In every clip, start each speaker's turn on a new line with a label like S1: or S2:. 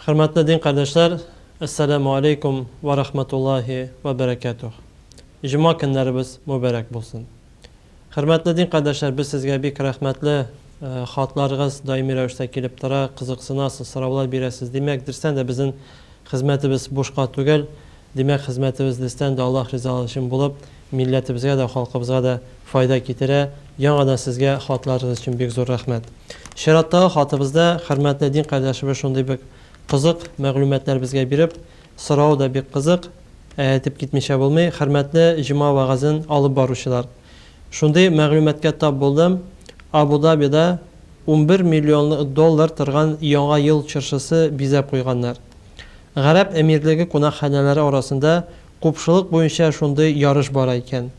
S1: Хөрмәтле дин кардәшләр, Әссәламу алейкум вә рахматуллахи вә бәрәкәтүх. Җома көннәребез мөбәрәк булсын. Хөрмәтле дин кардәшләр, без сезгә бик рәхмәтле, э, хатларыгыз даими рәвештә килеп тора, кызыксынасыз, сораулар бирәсез. Димәк, дөрестән дә безнең хезмәтебез бушка түгел. Димәк, хезмәтебез дөрестән дә Аллаһ ризалыгы өчен булып, Милләтебезгә дә, халкыбызга да файда китерә. Яңадан сезгә хатларыгыз өчен бик зур рәхмәт. Чираттагы хатыбызда хөрмәтле дин кардәшебез шундый бик кызык мәгълүматлар безгә биреп, соравы да бик кызык, ә әйтеп китмичә булмый, хөрмәтле җома вәгазен алып баручылар! Шундый мәгълүматка тап булдым, Абу-Дабида унбер миллион доллар торган Яңа ел чыршысы бизәп куйганнар. Гарәп Әмирлеге кунакханәләре арасында Купшылык буенча шундый ярыш бара икән.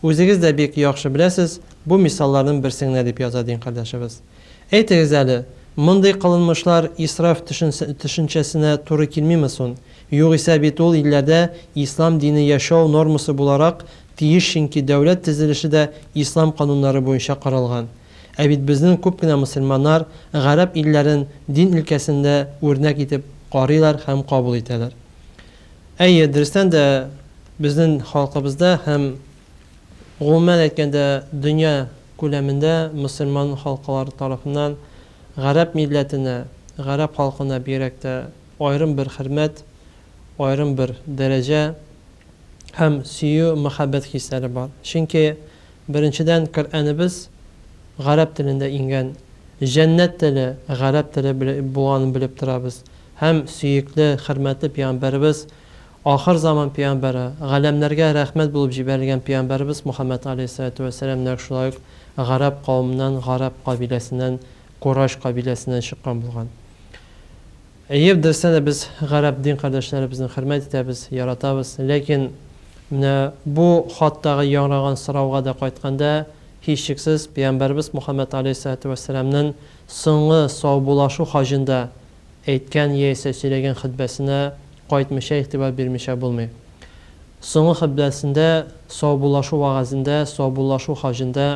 S1: Үзегез дә бик яхшы беләсез, бу мисалларның берсе генә, дип яза дин кардәшебез. Әйтегез әле, мондый кылынмышлар исраф төшенчәсенә туры килмиме сон? Югыйсә бит ул илләрдә ислам дине яшәү нормасы буларак тиеш ченки дәүләт тезелеше дә ислам кануннары буенча каралган. Ә бит безнен күп кенә мосылманнар гарәп илләрен дин илкәсендә үрнәк итеп карыйлар һәм кабул итәләр. Әйе, дөрестән дә, безнен халкыбызда һәм, гомумән әйткәндә, дөнья күләмендә мөселман халкылары тарафыннан гарәп милләтенә, гарәп халкына бигрәк тә аерым бер хөрмәт, аерым бер дәрәҗә һәм сөю-мәхәббәт хисләре бар. Чөнки Беренчедән, Коръәнебез гарәп телендә иңгән, җәннәт теле, гарәп теле булганын белеп торабыз һәм сөекле, хөрмәтле пәйгамбәребез, ахыр заман пәйгамбәре, галәмнәргә рәхмәт булып җибәрелгән пәйгамбәребез Мөхәммәд галәйһиссәлатү вәссәлам нәкъ шулай ук гарәп кавымыннан, гарәп кабиләсеннән, Курайш кабиләсеннән чыккан булган. Әйе, дөрестән дә без гарәп дин кардәшләребезне хөрмәт итәбез, яратабыз. Ләкин менә бу хаттагы яңраган сорауга да кайтканда, һичшиксез, пәйгамбәребез Мухаммәд галәйһиссәлатү вәссәламнен соңгы саубулашу хаҗында әйткән яисә сөйләгән хөтбәсенә кайтмыйча, игътибар бирмичә булмый. Соңгы хөтбәсендә, саубулашу вәгазендә, саубулашу хаҗында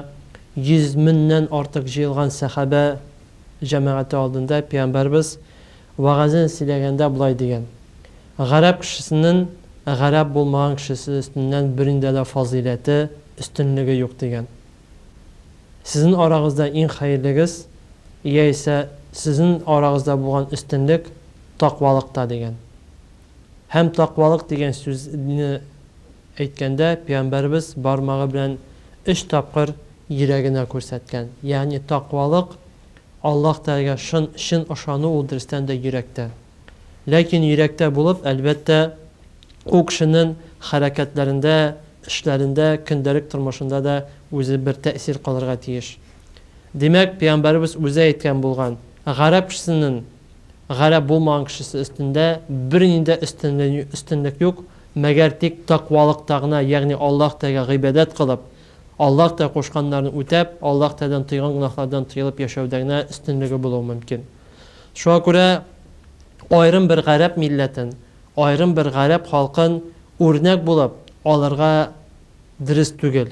S1: йөз мөннән артык җыелган сәхабә, җәмәгате алдында пәйгамбәребез вәгазен сөйләгәндә болай дигән, Гарәп кешесенен гарәп булмаган кешесе өстеннән бериндә дә фазыйләте, өстенлеге юк дигән. Сезен арагызда иң хәерлегез, яисә сезен арагызда булган өстенлек, таквалыкта дигән. Һәм такъвалык дигән сүзне әйткәндә, пәйгамбәребез бармагы белән өч тапкыр йөрәгенә күрсәткән. Ягъни такъвалык, Аллаһ Тәгаләгә шын, чын ышану ул дөрестән дә йөрәктә. Ләкин йөрәктә булып, әлбәттә, ул кешенең хәрәкәтләрендә, эшләрендә, көндәлек тормышында да үзе бер тәэсир калырга тиеш. Димәк, пәйгамбәребез үзе әйткән булган, гарәп кешесенең Гарәп булмаган кешесе өстендә бернинди дә өстенлек юк, мәгәр тик такъвалыкта гына, ягъни Аллаһ Тәгаләгә гыйбадәт кылып, Аллаһ Тәгалә кушканнарын үтәп, Аллаһ Тәгаләдән тыйган гөнаһлардан тыелып яшәүдә генә өстенлеге булуы мөмкин. Шуңа күрә аерым бер гарәп милләтен, аерым бер гарәп халкын үрнәк булып алырга дөрес түгел.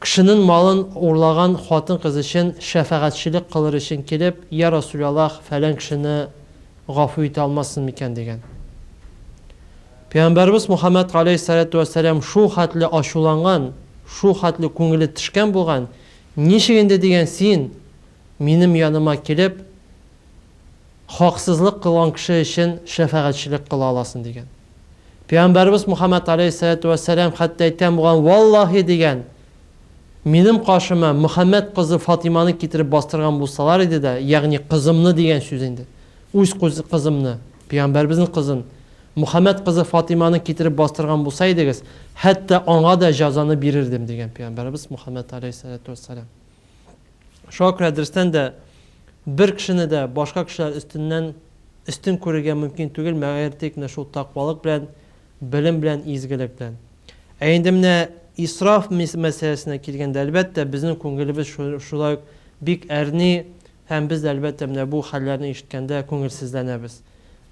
S1: Кшенен малын урлаган хатын-кыз өчен шәфәгатьчелек кылыр өчен килеп, Йә Расуляллаһ, фәлән кшене гафу итә алмассың микән? дигән. Пәйгамбәребез Мухаммәд галәйһиссәләтү вәссәлам шул хәтле ачуланган, шул хәтле күңеле тешкән булган, Ничек инде дигән син минем яныма килеп, Хаксызлык кылган кеше өчен шәфәгатьчелек кыла аласың, дигән. Пәйгамбәребез Мухаммәд галәйһиссәләтү вәссәлам хәтта әйткән булган, Валлаһи, дигән, минем каршыма Мөхәммәд кызы Фатыйманы китереп бастырган булсалар иде дә, ягъни кызымны дигән сүз инде, үз кызымны, пәйгамбәребезнең кызын, Мөхәммәд кызы Фатыйманы китереп бастырган булса идегез, хәтта аңа да җәзаны бирердем, дигән пәйгамбәребез Мухаммәд галәйһиссәләтү вәссәлам. Шуңа күрә дөрестән дә бер кешене дә башка кешеләр өстеннән өстен күрергә мөмкин түгел, мәгәр тик менә шул такъвалык белән, белем белән, изгелек белән. Ә инде менә исраф мәсьәләсенә килгәндә, әлбәттә, безнең күңелебез шулай ук бик әрни һәм без дә, әлбәттә, менә бу хәлләрне ишеткәндә күңелсезләнәбез.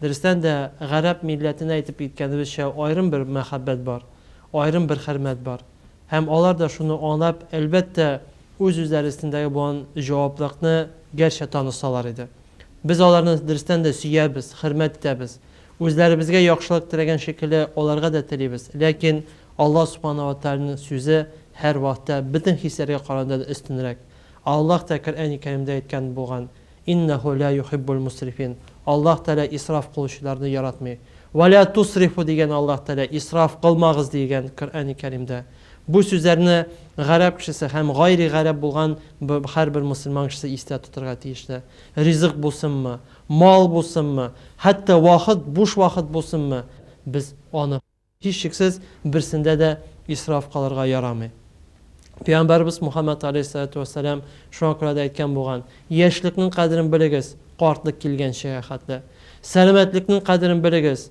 S1: Дөрестән дә, гарәп милләтенә әйтеп киткәнебезчә, аерым бер мәхәббәт бар, аерым бер хөрмәт бар. Һәм алар да шуны аңлап, әлбәттә, үз-үзләре өстендәге булган җаваплылыкны гәрчә танысалар иде. Без аларны дөрестән дә сөябез, хөрмәт итәбез. Үзләребезгә яхшылык теләгән шикелле, аларга да телибез. Ләкин Аллаһ Субхана ва Тәгаләнең сүзе һәрвакытта бөтен хисләргә караганда да өстенрәк. Аллаһ та Коръәни Кәримдә әйткән булган, Иннәһү лә юхиббул мусрифин. Аллаһ Тәгалә исраф кылучыларны яратмый. Вә лә тусрифу дигән Аллаһ Тәгалә, исраф кылмагыз дигән Коръәни Кәримдә. Бу сүзләрне гарәп кешесе һәм гайри гарәп булган һәрбер мөселман кешесе истә тотырга тиешле. Ризык булсынмы, мал булсынмы, хәтта вакыт, буш вакыт булсынмы, без аны. Һичшиксез, берсендә дә исраф кылырга ярамый. Пәйгамбәребез Мухаммәд галәйһиссәлату вәссәлам шуңа күрә дә әйткән булган, Яшьлекнең кадерен белегез, картлык килгәнчегә хәтле. Сәламәтлекнең кадерен белегез,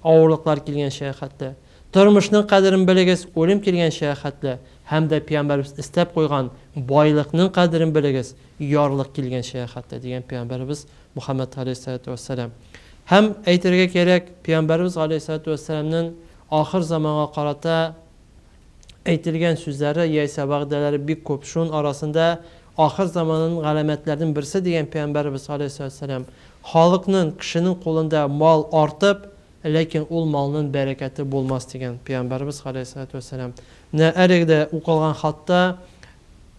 S1: авырлыклар килгәнчегә хәтле. Тормышның кадерен белегез, үлем килгәнчегә хәтле. Һәм дә Пәйгамбәребез өстәп куйган, Байлыкның кадерен белегез, ярлык килгәнчегә хәтле, дигән Пәйгамбәребез Мөхәммәд галәйһиссәлатү вәссәлам. Һәм, әйтергә кирәк, пәйгамбәребез галәйһиссәлатү вәссәламнең ахыр заманга карата әйтелгән сүзләре яисә вәгъдәләре бик күп. Шун арасында ахыр заманын галәмәтләрнең берсе дигән пәйгамбәребез галәйһиссәлатү вәссәлам, халыкнын, кешенең кулында мал артып, ләкин ул малнын бәрәкәте булмас дигән пәйгамбәребез галәйһиссәлатү вәссәлам. Менә әлеге дә укылган хатта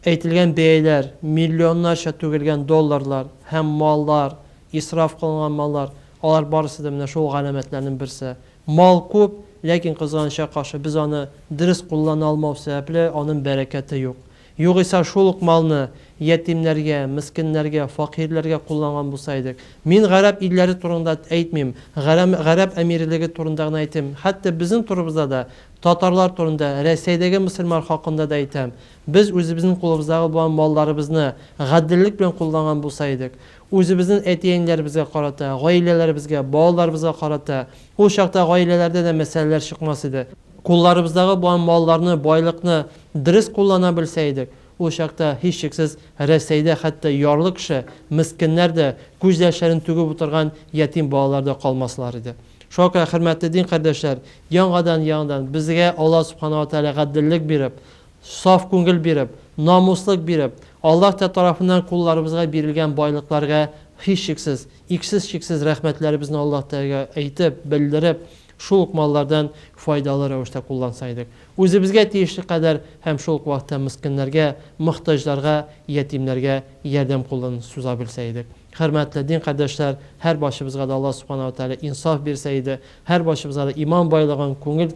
S1: Әйтелгән бәяләр, миллионнарча түгелгән долларлар һәм маллар, исраф кылынган маллар, алар барысы да менә шул галәмәтләрнең берсе. Мал күп, ләкин кызганычка каршы, без аны дөрес куллана алмау сәбәпле, аның бәрәкәте юк. Югыйсә шул ук малны ятимнәргә, мескеннәргә, факирләргә кулланган булса идек. Мин гарәп илләре турында әйтмим, гарәм, гарәп әмирелеге турында гына әйтим, хәтта безнең турыбызда да Татарлар турында, Рәсәйдәге мөселман хакында да әйтәм. Без үзебезнең кулыбыздагы булган малларыбызны гаделлек белән кулланган булса идек. Үзебезнен әти-әниләребезгә карата, гаиләләребезгә, балаларыбызга карата. Ул чакта гаиләләрдә дә мәсьәләләр чыкмас иде. Кулларыбыздагы булган малларны, байлыкны дөрес куллана белсә идек, ул чакта, һичшиксез, Рәсәйдә хәтта ярлы кеше, мескеннәр дә, күз яшьләрен түгеп утырган ятим балалар да калмаслар иде. Шуңа хөрмәтле дин кардәшләр, яңадан-яңадан безгә Аллаһ Субхана ва Тәгалә гаделлек биреп, саф күңел биреп, намуслык биреп, Аллаһ Тә тарафыннан кулларыбызга бирелгән байлыкларга һичшиксез, иксез-чиксез рәхмәтләребезне Аллаһ Тәгаләгә әйтеп, белдереп, шул ук маллардан файдалы рәвештә кулланса идек. Үзебезгә тиешле кадәр һәм шул ук вакытта мескеннәргә, мохтаҗларга, ятимнәргә ярдәм кулын суза белсә идек. Хөрмәтле дин кардәшләр, һәр барчыбызга да Алла Субхана ва Тәгалә инсаф бирсә иде, һәр барчыбызга да иман байлыгын, күңел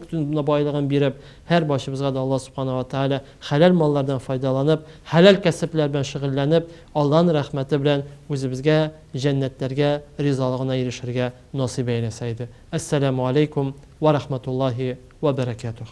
S1: байлыгын биреп, һәр барчыбызга да Алла Субхана ва Тәгалә хәләл маллардан файдаланып, хәләл кәсепләр белән шөгыльләнеп, Алланың рәхмәте белән үзебезгә җәннәтләргә, ризалыгына ирешергә насыйп әйләсә иде. Әссәләмү аләйкүм вә рахматуллаһи вә бәрәкәтүһ.